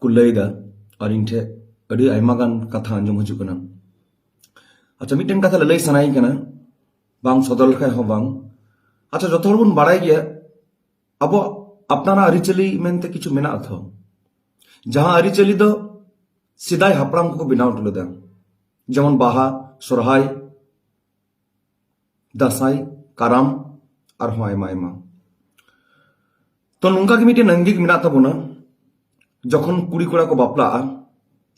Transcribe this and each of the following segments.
ᱠᱚ ᱞᱟᱹᱭᱫᱟ ᱟᱨ ᱤᱧ ᱴᱷᱮᱡ ᱟᱹᱰᱤ ᱟᱭᱢᱟ ᱜᱟᱱ ᱠᱟᱛᱷᱟ ᱟᱸᱡᱚᱢ ᱦᱤᱡᱩᱜ ᱠᱟᱱᱟ ᱟᱪᱪᱷᱟ ᱢᱤᱫᱴᱮᱱ ᱠᱟᱛᱷᱟ ᱞᱟᱹᱞᱟᱹᱭ ᱥᱟᱱᱟᱭᱤᱧ ᱠᱟᱱᱟ ᱵᱟᱝ ᱥᱚᱫᱚᱨ ᱞᱮᱠᱷᱟᱡ ᱦᱚᱸ ᱵᱟᱝ ᱟᱪᱪᱷᱟ ᱡᱚᱛᱚ ᱦᱚᱲ ᱵᱚᱱ ᱵᱟᱲᱟᱭ ᱜᱮᱭᱟ ᱟᱵᱚᱣᱟᱜ ᱟᱯᱱᱟᱨᱟᱜ ᱟᱹᱨᱤᱪᱟᱹᱞᱤ ᱢᱮᱱᱛᱮ ᱠᱤᱪᱷᱩ ᱢᱮᱱᱟᱜ ᱟᱛᱷᱚ ᱡᱟᱦᱟᱸ ᱟᱹᱨᱤᱪᱟᱹᱞᱤ ᱫᱚ ᱥᱮᱫᱟᱭ ᱦᱟᱯᱲᱟᱢ ᱠᱚᱠᱚ ᱵᱮᱱᱟᱣ ᱦᱚᱴᱚ ᱞᱮᱫᱟ ᱡᱮᱢᱚᱱ ᱵᱟᱦᱟ ᱥᱚᱨᱦᱟᱭ ᱫᱟᱸᱥᱟᱭ ᱠᱟᱨᱟᱢ ᱟᱨᱦᱚᱸ ᱟᱭᱢᱟ ᱟᱭᱢᱟ ᱛᱚ ᱱᱚᱝᱠᱟ ᱜᱮ ᱢᱤᱫᱴᱮᱱ ᱟᱝᱜᱤᱠ ᱢᱮᱱᱟᱜ ᱛᱟᱵᱚᱱᱟ ᱡᱚᱠᱷᱚᱱ ᱠᱩᱲᱤ ᱠᱚᱲᱟ ᱠᱚ ᱵᱟᱯᱞᱟᱜᱼᱟ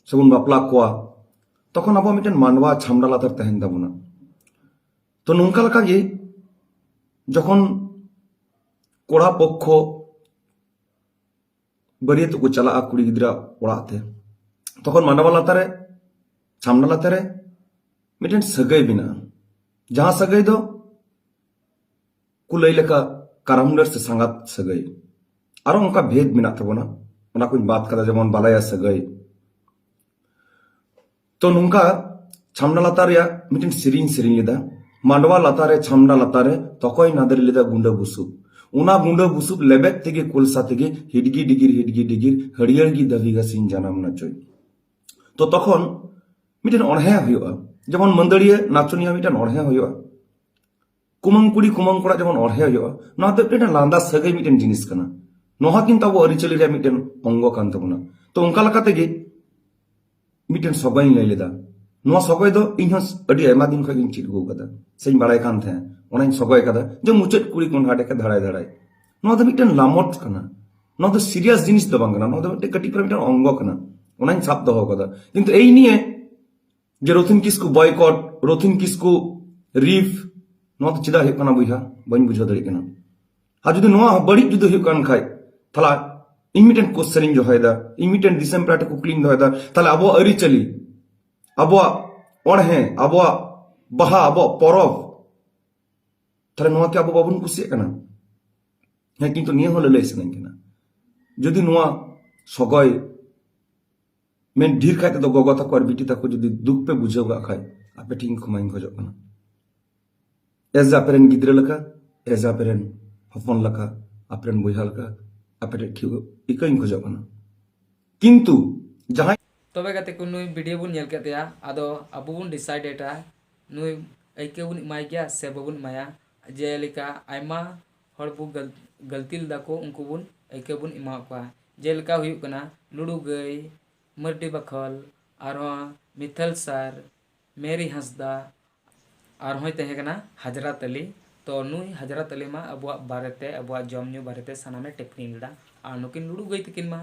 ᱥᱮᱵᱚᱱ ᱵᱟᱯᱞᱟ ᱠᱚᱣᱟ ᱛᱚᱠᱷᱚᱱ ᱟᱵᱚᱣᱟᱜ ᱢᱤᱫᱴᱮᱱ ᱢᱟᱱᱣᱟ ᱪᱷᱟᱢᱰᱟ ᱞᱟᱛᱟᱨ ᱛᱟᱦᱮᱱ ᱛᱟᱵᱚᱱᱟ ᱛᱚ ᱱᱚᱝᱠᱟ ᱞᱮᱠᱟ ᱜᱮ ᱡᱚᱠᱷᱚᱱ ᱠᱚᱲᱟ ᱯᱚᱠᱠᱷᱚ ᱵᱟᱹᱨᱭᱟᱹᱛ ᱠᱚ ᱪᱟᱞᱟᱜᱼᱟ ᱠᱩᱲᱤ ᱜᱤᱫᱽᱨᱟᱹ ᱚᱲᱟᱜ ᱛᱮ ᱛᱚᱠᱷᱚᱱ ᱢᱟᱰᱣᱟ ᱞᱟᱛᱟᱨ ᱨᱮ ᱪᱷᱟᱢᱰᱟ ᱞᱟᱛᱟᱨ ᱨᱮ ᱢᱤᱫᱴᱮᱱ ᱥᱟᱹᱜᱟᱹᱭ ᱢᱮᱱᱟᱜᱼᱟ ᱡᱟᱦᱟᱸ ᱥᱟᱹᱜᱟᱹᱭ ᱫᱚ ᱠᱚ ᱞᱟᱹᱭ ᱞᱮᱠᱟ ᱠᱟᱨᱟᱢᱰᱟᱹᱨ ᱥᱮ ᱥᱟᱸᱜᱟᱛ ᱥᱟᱹᱜᱟᱹᱭ ᱟᱨᱚ ᱚᱱᱠᱟ ᱵᱷᱮᱫ ᱢᱮᱱᱟᱜ ᱛᱟᱵᱚᱱᱟ ᱚᱱᱟ ᱠᱚᱧ ᱵᱟᱫ ᱠᱟᱫᱟ ᱡᱮᱢᱚᱱ ᱵᱟᱞᱟᱭᱟ ᱥᱟᱹᱜᱟᱹᱭ ᱛᱚ ᱱᱚᱝᱠᱟ ᱪᱷᱟᱢᱰᱟ ᱞᱟᱛᱟᱨ ᱨᱮᱭᱟᱜ ᱢᱤᱫᱴᱮᱱ ᱥᱮᱨᱮᱧ ᱥᱮᱨᱮᱧ ᱞᱮᱫᱟ ᱢᱟᱰᱣᱟ ᱞᱟᱛᱟᱨ ᱨᱮ ᱪᱷᱟᱢᱰᱟ ᱞᱟᱛᱟᱨ ᱨᱮ ᱛᱚᱠᱚᱭ ᱱᱟᱫᱮᱨ ᱞᱮᱫᱟ ᱜᱩᱸᱰᱟᱹ ᱵᱩᱥᱩᱵ ᱚᱱᱟ ᱜᱩᱸᱰᱟᱹ ᱵᱩᱥᱩᱵ ᱞᱮᱵᱮᱫ ᱛᱮᱜᱮ ᱠᱚᱞᱥᱟ ᱛᱮᱜᱮ ᱦᱤᱰᱜᱤ ᱰᱤᱜᱤᱨ ᱦᱤᱰᱜᱤ ᱰᱤᱜᱤᱨ ᱦᱟᱹᱨᱭᱟᱹᱲ ᱜᱮ ᱫᱟᱹᱵᱤ ᱜᱟᱥᱤᱧ ᱡᱟᱱᱟᱢ ᱱᱟᱪᱚᱭ ᱛᱚ ᱛᱚᱠᱷᱚᱱ ᱢᱤᱫᱴᱮᱱ ᱚᱬᱦᱮ ᱦᱩᱭᱩᱜᱼᱟ ᱡᱮᱢᱚᱱ ᱢᱟᱹᱫᱟᱹᱲᱤᱭᱟᱹ ᱱᱟᱪᱚᱱᱤᱭᱟᱹ ᱢᱤᱫᱴᱮᱱ ᱚᱬᱦᱮ ᱦᱩᱭᱩᱜᱼᱟ ᱠᱩᱢᱟᱹᱝ ᱠᱩᱲᱤ ᱠᱩᱢᱟᱹᱝ ᱠᱚᱲᱟ ᱡᱮᱢᱚᱱ ᱚᱲᱦᱮ ᱦᱩᱭᱩᱜᱼᱟ ᱱᱚᱣᱟ ᱫᱚ ᱢᱤᱫᱴᱮᱱ ᱞᱟᱸᱫᱟ ᱥᱟᱹᱜᱟᱹᱭ ᱢᱤᱫᱴᱮᱱ ᱡᱤᱱᱤᱥ ᱠᱟᱱᱟ ᱱᱚᱣᱟ ᱠᱤᱱᱛᱩ ᱟᱵᱚ ᱟᱹᱨᱤᱪᱟᱹᱞᱤ ᱨᱮᱭᱟᱜ ᱢᱤᱫᱴᱮᱱ ᱚᱝᱜᱚ ᱠᱟᱱ ᱛᱟᱵᱚᱱᱟ ᱛᱚ ᱚᱱᱠᱟ ᱞᱮᱠᱟ ᱛᱮᱜᱮ ᱢᱤᱫᱴᱮᱱ ᱥᱚᱜᱚᱭ ᱤᱧ ᱞᱟᱹᱭ ᱞᱮᱫᱟ ᱱᱚᱣᱟ ᱥᱚᱜᱚᱭ ᱫᱚ ᱤᱧ ᱦᱚᱸ ᱟᱹᱰᱤ ᱟᱭᱢᱟ ᱫᱤᱱ ᱠᱷᱚᱱ ᱜᱤᱧ ᱪᱮᱫ ᱟᱹᱜᱩ ᱟᱠᱟᱫᱟ ᱥᱮᱧ ᱵᱟᱲᱟᱭ ᱠᱟᱱ ᱛᱟᱦᱮᱸ ᱚᱱᱟᱧ ᱥᱚᱜᱚᱭ ᱟᱠᱟᱫᱟ ᱡᱮ ᱢᱩᱪᱟᱹᱫ ᱠᱩᱲᱤ ᱠᱚᱸᱰᱷᱟ ᱰᱮᱠᱟ ᱫᱷᱟᱲᱟᱭ ᱫᱷᱟᱲᱟᱭ ᱱᱚᱣᱟ ᱫᱚ ᱢᱤᱫᱴᱮᱱ ᱞᱟᱢᱚᱴ ᱠᱟᱱᱟ ᱱᱚᱣᱟ ᱫᱚ ᱥᱤᱨᱤᱭᱟᱥ ᱡᱤᱱᱤᱥ ᱫᱚ ᱵᱟᱝ ᱠᱟᱱᱟ ᱱᱚᱣᱟ ᱫᱚ ᱢᱤᱫᱴᱮᱱ ᱠᱟᱹᱴᱤᱡ ᱯᱟᱨᱟ ᱢᱤᱫᱴᱮᱱ ᱚᱝᱜᱚ ᱠᱟᱱᱟ ᱚᱱᱟᱧ ᱥᱟᱵ ᱫᱚᱦᱚ ᱟᱠᱟᱫᱟ ᱠᱤᱱᱛᱩ ᱮᱭ ᱱᱤᱭᱮ ᱡᱮ ᱨᱚᱛᱷᱤᱱ ᱠᱤᱥᱠᱩ ᱵᱚᱭᱠᱚᱴ ᱨᱚᱛᱷᱤᱱ ᱠᱤᱥᱠᱩ ᱨᱤᱯᱷ ᱱᱚᱣᱟ ᱫᱚ ᱪᱮᱫᱟᱜ ᱦᱩᱭᱩᱜ ᱠᱟᱱᱟ ᱵᱚᱭᱦᱟ ᱵᱟᱹᱧ ᱵᱩᱡᱷᱟᱹᱣ ᱫᱟᱲᱮᱭᱟᱜ ᱠᱟᱱᱟ ᱟᱨ ᱡᱩᱫᱤ ᱱᱚᱣᱟ ᱵᱟᱹᱲᱤᱡ ᱡᱩᱫᱤ ᱦᱩᱭᱩᱜ ᱠᱟᱱ ᱠᱷᱟᱡ ᱛᱟᱦᱞᱮ ᱤᱧ ᱢᱤᱫᱴᱮᱱ ᱠᱚᱥᱪᱮᱱ ᱤᱧ ᱫᱚᱦᱚᱭᱮᱫᱟ ᱤᱧ ᱢᱤᱫᱴᱮᱱ ᱫᱤᱥᱚᱢ ᱯᱮᱲᱟ ᱴᱷᱮᱱ ᱠᱩᱠᱞᱤᱧ ᱫᱚᱦᱚᱭᱮᱫᱟ ᱛᱟᱦᱞᱮ ᱟᱵᱚᱣᱟᱜ ᱟᱹᱨᱤᱪᱟᱹᱞᱤ ᱟᱵᱚᱣᱟᱜ ᱚᱬᱦᱮ ᱟᱵᱚᱣᱟᱜ ᱵᱟᱦᱟ ᱟᱵᱚᱣᱟᱜ ᱯᱚᱨᱚᱵᱽ ᱛᱟᱦᱞᱮ ᱱᱚᱣᱟ ᱠᱤ ᱟᱵᱚ ᱵᱟᱵᱚᱱ ᱠᱩᱥᱤᱭᱟᱜ ᱠᱟᱱᱟ ᱦᱮᱸ ᱠᱤᱱᱛᱩ ᱱᱤᱭᱟᱹ ᱦᱚᱸ ᱞᱟᱹᱞᱟᱹᱭ ᱥᱟᱱᱟᱧ ᱠᱟᱱᱟ ᱡᱩᱫᱤ ᱱᱚᱣᱟ ᱥᱚᱜᱚᱭ ᱢᱮᱱ ᱰᱷᱮᱨ ᱠᱷᱟᱡ ᱛᱮᱫᱚ ᱜᱚᱜᱚ ᱛᱟᱠᱚ ᱟᱨ ᱵᱤᱴᱤ ᱛᱟᱠᱚ ᱡᱩᱫᱤ ᱫᱩᱠ ᱯᱮ ᱵᱩᱡᱷᱟᱹᱣ ᱠᱟᱜ ᱠᱷᱟᱡ ᱟᱯᱮ ᱴᱷᱮᱱ ᱠᱷᱚᱢᱟᱧ ᱠᱷᱚᱡᱚᱜ ᱠᱟᱱᱟ ᱮᱡ ᱟᱯᱮ ᱨᱮᱱ ᱜᱤᱫᱽᱨᱟᱹ ᱞᱮᱠᱟ ᱮᱡ ᱟᱯᱮ ᱨᱮᱱ ᱦᱚᱯᱚᱱ ᱞᱮᱠᱟ ᱟᱯᱮ ᱨᱮᱱ ᱵᱚᱭᱦᱟ ᱞᱮᱠᱟ ᱟᱯᱮ ᱴᱷᱮᱱ ᱴᱷᱤᱠ ᱤᱠᱟᱹᱧ ᱠᱷᱚᱡᱚᱜ ᱠᱟᱱᱟ ᱠᱤᱱᱛᱩ ᱡᱟᱦᱟᱸᱭ ᱛᱚᱵᱮ ᱜᱟᱛᱮ ᱠᱚ ᱱᱩᱭ ᱵᱷᱤᱰᱤᱭᱳ ᱵᱚᱱ ᱧᱮᱞ ᱠᱮᱫ ᱛᱟᱭᱟ ᱟᱫᱚ ᱟᱵᱚ ᱵᱚᱱ ᱰᱤᱥᱟᱭᱤᱰᱮᱴᱟ ᱱᱩᱭ ᱟᱹᱭᱠᱟᱹᱣ ᱵᱚᱱ ᱮᱢᱟᱭ ᱜᱮᱭᱟ ᱥᱮ ᱵᱟᱵᱚᱱ ᱮᱢᱟᱭᱟ ᱡᱮᱞᱮᱠᱟ ᱟᱭᱢᱟ ᱦᱚᱲ ᱵᱚ ᱜᱟᱹᱞᱛᱤ ᱞᱮᱫᱟ ᱠᱚ ᱩᱱᱠᱩ ᱵᱚᱱ ᱟᱹᱭᱠᱟᱹᱣ ᱵᱚᱱ ᱮᱢᱟᱣᱟᱫ ᱠᱚᱣᱟ ᱡᱮᱞᱮᱠᱟ ᱦᱩᱭᱩᱜ ᱠᱟᱱᱟ ᱞᱩᱲᱩ ᱜᱟᱹᱭ ᱢᱟᱹᱨᱰᱤ ᱵᱟᱠᱷᱳᱞ ᱟᱨᱦᱚᱸ ᱢᱤᱛᱟᱞ ᱥᱟᱨ ᱢᱮᱨᱤ ᱦᱟᱸᱥᱫᱟ ᱟᱨᱦᱚᱸᱭ ᱛᱟᱦᱮᱸ ᱠᱟᱱᱟ ᱦᱟᱡᱽᱨᱟᱛ ᱟᱞᱤ ᱛᱚ ᱱᱩᱭ ᱦᱟᱡᱽᱨᱟᱛ ᱟᱞᱤ ᱢᱟ ᱟᱵᱚᱣᱟᱜ ᱵᱟᱨᱮᱛᱮ ᱟᱵᱚᱣᱟᱜ ᱡᱚᱢ ᱧᱩ ᱵᱟᱨᱮᱛᱮ ᱥᱟᱱᱟᱢᱮ ᱴᱤᱯᱯᱚᱱᱤ ᱞᱮᱫᱟ ᱟᱨ ᱱᱩᱠᱤᱱ ᱞᱩᱲᱩ ᱜᱟᱹᱭ ᱛᱟᱹᱠᱤᱱ ᱢᱟ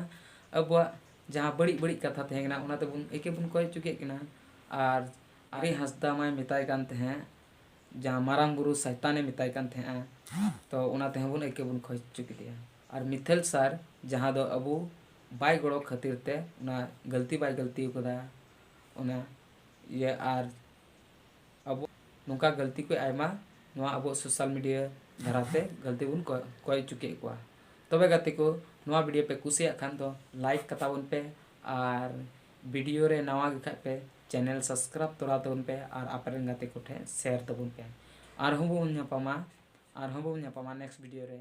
ᱟᱵᱚᱣᱟᱜ ᱡᱟᱦᱟᱸ ᱵᱟᱹᱲᱤᱡ ᱵᱟᱹᱲᱤᱡ ᱠᱟᱛᱷᱟ ᱛᱟᱦᱮᱸ ᱠᱟᱱᱟ ᱚᱱᱟ ᱛᱮᱵᱚᱱ ᱟᱹᱭᱠᱟᱹᱣ ᱵᱚᱱ ᱠᱚᱭ ᱦᱚᱪᱚ ᱠᱮᱫ ᱠᱤᱱᱟ ᱟᱨ ᱢᱮᱨᱤ ᱦᱟᱸᱥᱫᱟ ᱢᱟᱭ ᱢᱮᱛᱟᱭ ᱠᱟᱱ ᱛᱟᱦᱮᱸᱫ ᱡᱟᱦᱟᱸ ᱢᱟᱨᱟᱝ ᱵᱩᱨᱩ ᱥᱟᱭᱛᱟᱱ ᱮ ᱢᱮᱛᱟᱭ ᱠᱟᱱ ᱛᱟᱦᱮᱸᱫᱼᱟ ᱛᱚ ᱚᱱᱟ ᱛᱮᱦᱚᱸ ᱵᱚᱱ ᱟᱹᱭᱠᱟᱹᱣ ᱵᱚᱱ ᱠᱷᱚᱡᱽ ᱦᱚᱪᱚ ᱠᱮᱫᱮᱭᱟ ᱟᱨ ᱢᱤᱛᱷᱮᱞ ᱥᱟᱨ ᱡᱟᱦᱟᱸ ᱫᱚ ᱟᱵᱚ ᱵᱟᱭ ᱜᱚᱲᱚ ᱠᱷᱟᱹᱛᱤᱨ ᱛᱮ ᱚᱱᱟ ᱜᱟᱹᱞᱛᱤ ᱵᱟᱭ ᱜᱟᱹᱞᱛᱤ ᱟᱠᱟᱫᱟ ᱚᱱᱟ ᱤᱭᱟᱹ ᱟᱨ ᱟᱵᱚ ᱱᱚᱝᱠᱟ ᱜᱟᱹᱞᱛᱤ ᱠᱚ ᱟᱭᱢᱟ ᱱᱚᱣᱟ ᱟᱵᱚ ᱥᱳᱥᱟᱞ ᱢᱤᱰᱤᱭᱟ ᱫᱷᱟᱨᱟᱛᱮ ᱜᱟᱹᱞᱛᱤ ᱵᱚᱱ ᱠᱚᱭ ᱠᱚᱭ ᱦᱚᱪᱚ ᱠᱮᱫ ᱠᱚᱣᱟ ᱛᱚᱵᱮ ᱜᱟᱛᱮ ᱠᱚ ᱱᱚᱣᱟ ᱵᱷᱤᱰᱤᱭᱳ ᱯᱮ ᱠᱩᱥᱤᱭᱟᱜ ᱠᱷᱟᱱ ᱫᱚ ᱞᱟᱭᱤᱠ ᱠᱟᱛᱟᱵᱚᱱ ᱯᱮ ᱟᱨ ᱵᱷᱤᱰᱤᱭᱳ ᱨᱮ ᱱᱟᱣᱟ ᱜᱮᱠᱷᱟᱱ ᱯᱮ ᱪᱮᱱᱮᱞ ᱥᱟᱵᱥᱠᱨᱟᱭᱤᱵ ᱛᱚᱨᱟ ᱛᱟᱵᱚᱱ ᱯᱮ ᱟᱨ ᱟᱯᱮ ᱨᱮᱱ ᱜᱟᱛᱮ ᱠᱚ ᱴᱷᱮᱱ ᱥᱮᱭᱟᱨ ᱛᱟᱵᱚᱱ ᱯᱮ ᱟᱨᱦᱚᱸ ᱵᱚᱱ ᱧᱟᱯᱟᱢᱟ ᱟᱨᱦᱚᱸ ᱵᱚᱱ ᱧᱟᱯᱟᱢᱟ ᱱᱮᱠᱥᱴ ᱵᱷᱤᱰᱤᱭᱳ ᱨᱮ